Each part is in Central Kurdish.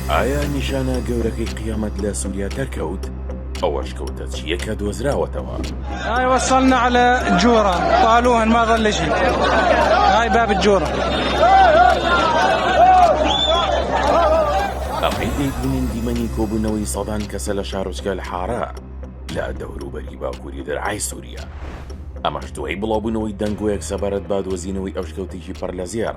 ئایا نیشانە گەورەکەی قیامەت لە سووریا دەرکەوت؟ ئەوەش کەوتە چیەکە دۆزراوەتەوە ئایوەسەلنا لە جۆرە پاالو هەنماغە لەژی ئای باب جۆرە. ئەمەی دەیبینین دیمەنی کۆبوونەوەی سەدان کەسە لە شارۆچکە لە حارە لە دەوروبەری باکووری دەرعای سووریا ئەمەش دوای بڵاوبوونەوەی دەنگۆیەک سەبارەت بادۆزینەوەی ئەوشکەوتێکی پڕ لە زێڕ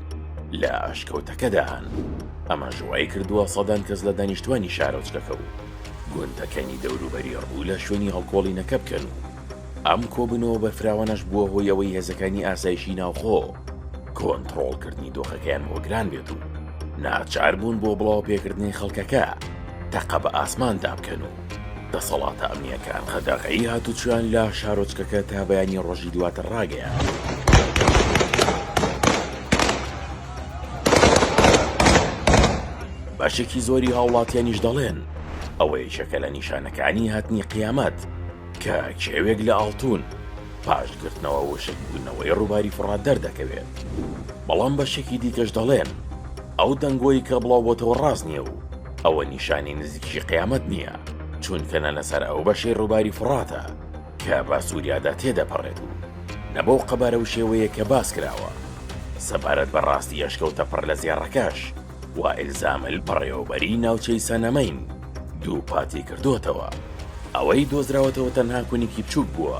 لە ئاشکەوتەکەدان، ئەمەش وایکردووە سەدان کەس لە دانیشتوانی شارۆچکەکە و گوندەکانی دەوروبەری ڕوو لە شوێنی هەڵکۆڵینەکە بکەن و ئەم کۆبوونەوە بەرفراوانەش بووە هۆی ئەوەی هێزەکانی ئاسایشی ناوخۆ کۆنتڕۆڵکردنی دۆخەکەیان بۆ گران بێت و ناچاربوون بۆ بڵاوەپێکردنی خەڵکەکە تەقە بە ئاسماندا بکەن و دەسەڵاتە ئەمنییەکان قەدەغەی هاتوچۆیان لە شارۆچکەکە تا بەیانی ڕۆژی دواتر ڕاگەیاند. بەشێکی زۆری هاوڵاتیانیش دەڵێن ئەوە یەکێکە لە نیشانەکانی هاتنی قیامەت کە کێوێک لە ئاڵتوون پاش گرتنەوە وشک بوونەوەی ڕووباری فوڕات دەردەکەوێت، بەڵام بەشێکی دیکەش دەڵێن ئەو دەنگۆی کە بڵاوبۆتەوە ڕاست نییە و ئەوە نیشانی نزیکی قیامەت نییە چونکە نە لەسەر ئەو بەشەی ڕووباری فڕاتە کە بە سووریادا تێدەپەڕێت و نە بەو قەبارە و شێوەیە کە باس کراوە سەبارەت بە ڕاستی ئەشکەوتە پڕ لە زێڕەکەش وائیل زامل بەڕێوەبەری ناوچەی سەنەمەین دووپاتی کردووەتەوە ئەوەی دۆزراوەتەوە تەنها کونیکی بچووک بووە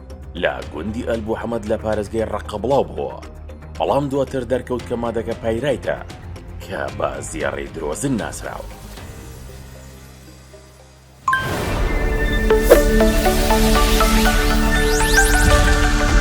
لە گوندی ئەلبوحەمەد لە پارێزگەی ڕەققە بڵاو بووە، بەڵام دواتر دەرکەوت کە مادەکە پایرایتە کە بە زێڕی درۆزن ناسراوە.